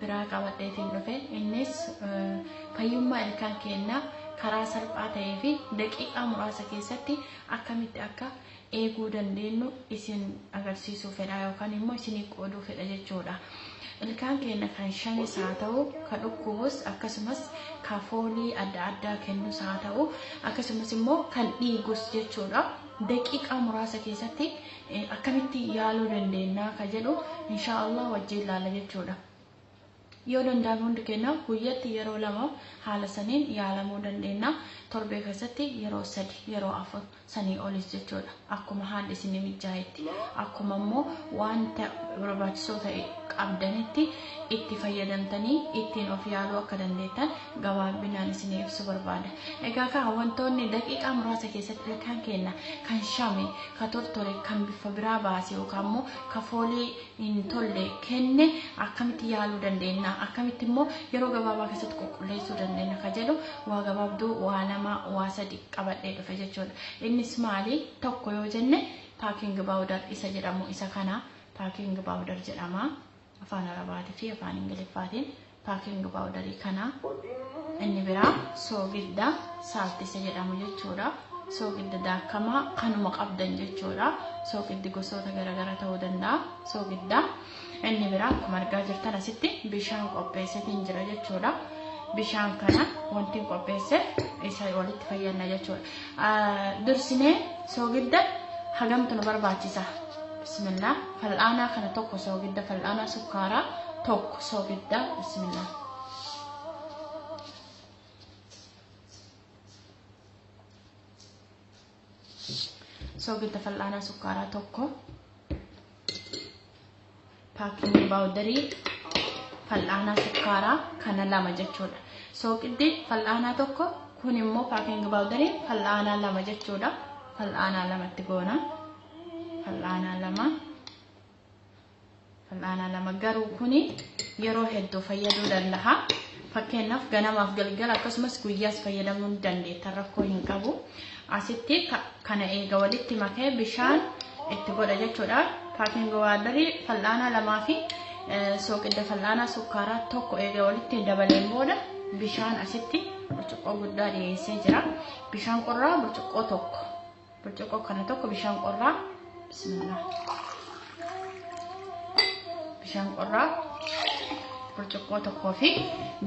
biraa qabadheetiin dhufe innis fayyummaa ilkaan keenyaa karaa salphaa ta'ee fi daqiiqaa muraasa keessatti akkamitti akka eeguu dandeenyu isin agarsiisuu fedha yookaan immoo isinii qooduu fedha jechuudha. Ilkaan keenya kan shanis haa ta'u, ka dhukkubus akkasumas ka foolii adda addaa kennus haa ta'u, akkasumas immoo kan dhiigus jechuudha. Daqiiqaa muraasa keessatti akkamitti yaaluu dandeennaa ka jedhu inshaa Allah wajjiin laalla jechuudha. Yoo danda'ame hundi keenya guyyatti yeroo lama haala saniin yaalamuu dandeenya. Torbee keessatti yeroo sadi yeroo afur sanii olis jechuudha. Akkuma haalli isin mijaa'etti akkuma immoo wanta barbaachisoo ta'e qabdanitti itti fayyadamtanii ittiin of yaaluu akka dandeettan gabaabinaan isinii ibsu barbaada. Egaa kaa wantoonni daqiiqaa muraasa keessatti ilkaan keenna kan shame, ka tortore, kan biffa biraa baase yookaan immoo ka foolii hin tolle kenne akkamitti yaaluu dandeenya? Akkamitti immoo yeroo gabaabaa keessatti qulqulleessuu dandeenya ka jedhu waa gabaabduu waa lama waa sadi qabadhee dhufe jechuudha. Innis maali? Tokko yoo jenne paaking baawudar isa jedhamu isa kana paaking baawudar jedhama. afaan Arabaatii fi afaan Ingiliffaatiin paaking paawudarii kana inni biraa soogidda saaltisa jedhamu jechuudha. Soogidda daakamaa kanuma qabdan jechuudha. Soogiddi gosoota garaagaraa ta'uu danda'a. Soogidda inni biraa akkuma argaa jirtan asitti bishaan qopheessetiin jira jechuudha. Bishaan kana wanti qopheesse isa walitti fayyadna jechuudha. Dursinee soogidda hagamtu nu barbaachisa? Bismillah. Fal'aanaa kana tokko soogidda fal'aanaa sukkaaraa tokko soogidda. Bismillah. Soogidda fal'aanaa sukkaaraa tokko. Paakiingi baawudarii fal'aanaa sukkaaraa kana lama jechuudha. Sooqiddi fal'aanaa tokko kun immoo paakiingi baawudarii fal'aanaa lama jechuudha. Fal'aanaa lamatti goona. Fal'aanaa lama. Fal'aanaa lama garuu kuni yeroo hedduu fayyaduu danda'a. Fakkeenyaaf ganamaaf galgala akkasumas guyyaas fayyadamuu ni dandeetta rakkoo hin qabu. Asitti kana eega walitti makee bishaan itti godha jechuudha. Paaking waadarii fal'aanaa lamaa fi sooqidda fal'aanaa sukkaaraa tokko eega walitti dabaleen booda bishaan asitti burcuqqoo guddaa dhiyeessee jira. Bishaan qorraa burcuqqoo tokko. Burcuqqoo kana tokko bishaan qorraa Bismillah. Bishaan qorraa burcuqqoo tokkoo fi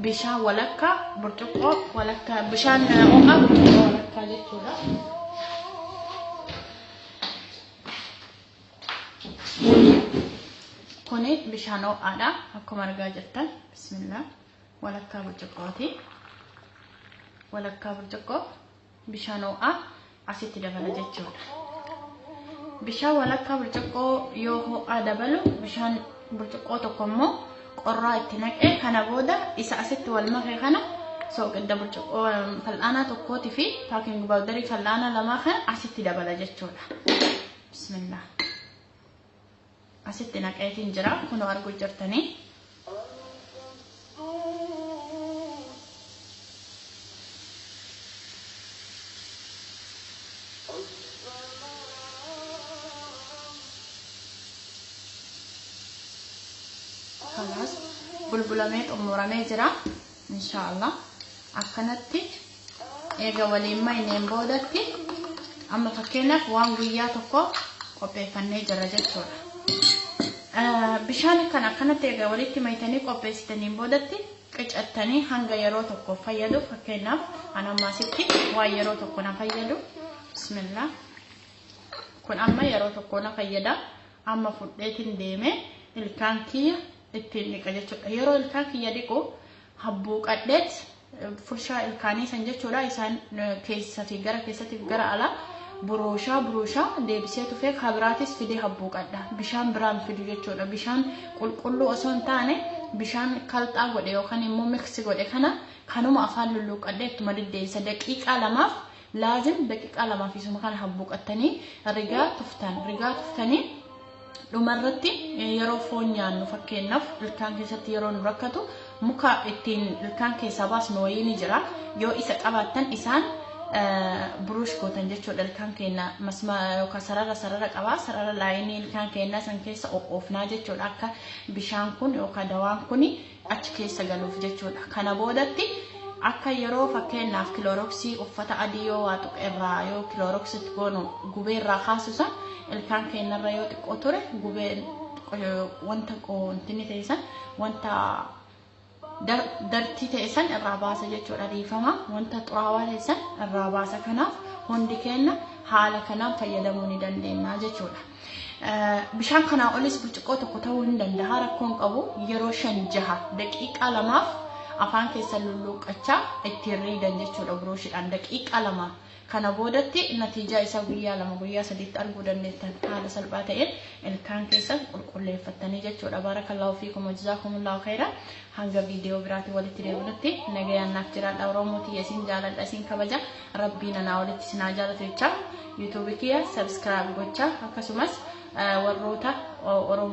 bishaan walakkaa burcuqqoo walakkaa bishaan ho'aa burcuqqoo walakkaa jechuudha. Kuni bishaan ho'aadha akkuma argaa jirtan bismillah walakkaa burcuqqooti walakkaa burcuqqoo Bishaan ho'aa asitti dabala jechuudha. Bishaan walakkaa burcuqqoo yoo ho'aa dabalu bishaan burcuqqoo tokko immoo qorraa itti naqee kana booda isa asitti wal make kana sooqidda burcuqqoo fal'aanaa tokkootii fi paaking baawdarii fal'aanaa lamaa kana asitti dabala jechuudha. Bismillah. Asitti naqaetiin jira kunoo arguu jirtanii. Kanaas bulbulamee xumuramee jira. Inshaa Allah akkanatti eega waliin mayneen boodatti amma fakkeenyaaf waan guyyaa tokko qopheeffannee jirra jechuudha. Eh, Bishaan kan akkanatti eega walitti maytanii qopheessitaniin boodatti qicattanii hanga yeroo tokko fayyadu fakkeenyaaf an amma asitti waan yeroo tokko na fayyadu bismillah kun amma yeroo tokko na fayyada amma fudheetiin deemee ilkaan kiyya ittiin dhiqa jechuudha. Yeroo ilkaan kiyya dhiqu habbuuqadheet furshaa ilkaanii san jechuudha isaan keessati gara keessatti gara alaa buruushaa buruushaa deebisee tufee kabiraatis fidee habbuuqadha. Bishaan biraan fidu jechuudha. Bishaan qulqulluu osoo hin taane bishaan kalxaa godhe yookaan immoo miksi godhe kana kanuma afaan lulluuqqadhee ittuma deddeebisa daqiiqaa lamaaf Laazim daqiqaa lamaa fi suma kana habbuuqattanii rigaa tuftan. Rigaa tuftanii dhumarratti yeroo foon nyaannu fakkeenyaaf ilkaan keessatti yeroo nu rakkatu muka ittiin ilkaan keessaa baasnu wayii ni jira. Yoo isa qabaattan isaan buruush gootan jechuudha ilkaan keenya masma yookaan sarara sarara qabaa sarara laayinii ilkaan keenyaa san keessa oofnaa jechuudha akka bishaan kun yookaan dawaan kun achi keessa galuuf jechuudha. Kana boodatti akka yeroo fakkeenyaaf kilooroksii uffata adii yoo waa tuqe irraa yoo kilooroksitti goonu gubee irraa kaasu san ilkaan keenyarra yoo xiqqoo ture gubee wanta qoontinni ta'e san wanta dartii ta'e san irraa baasa jechuudha dhiifama wanta xuraawaa ta'e san irraa baasa kanaaf hundi keenya haala kanaan fayyadamuu ni dandeenya jechuudha. Bishaan kanaa olis burcuqqoo tokko ta'uu hin danda'a rakkoon qabu yeroo shan jaha daqiiqaa lamaaf afaan keessa lulluuqqachaa ittiin riidan jechuudha buruushiidhaan daqiiqaa lama kana boodatti natiijaa isaa guyyaa lama guyyaa sadiitti arguu dandeettan haala salphaa ta'een ilkaan keessan qulqulleeffattanii jechuudha baarakallaahu fiikum wajjizaakumullahu khayra hanga viidiyoo biraatiin walitti deebinutti nagayaan naaf jiraadha oromoo tiyya isin jaaladha isin kabaja Rabbiin anaa olitti isin haa jaalatu jechaa YouTube kiyya subscribe gochaa akkasumas warroota Oromoo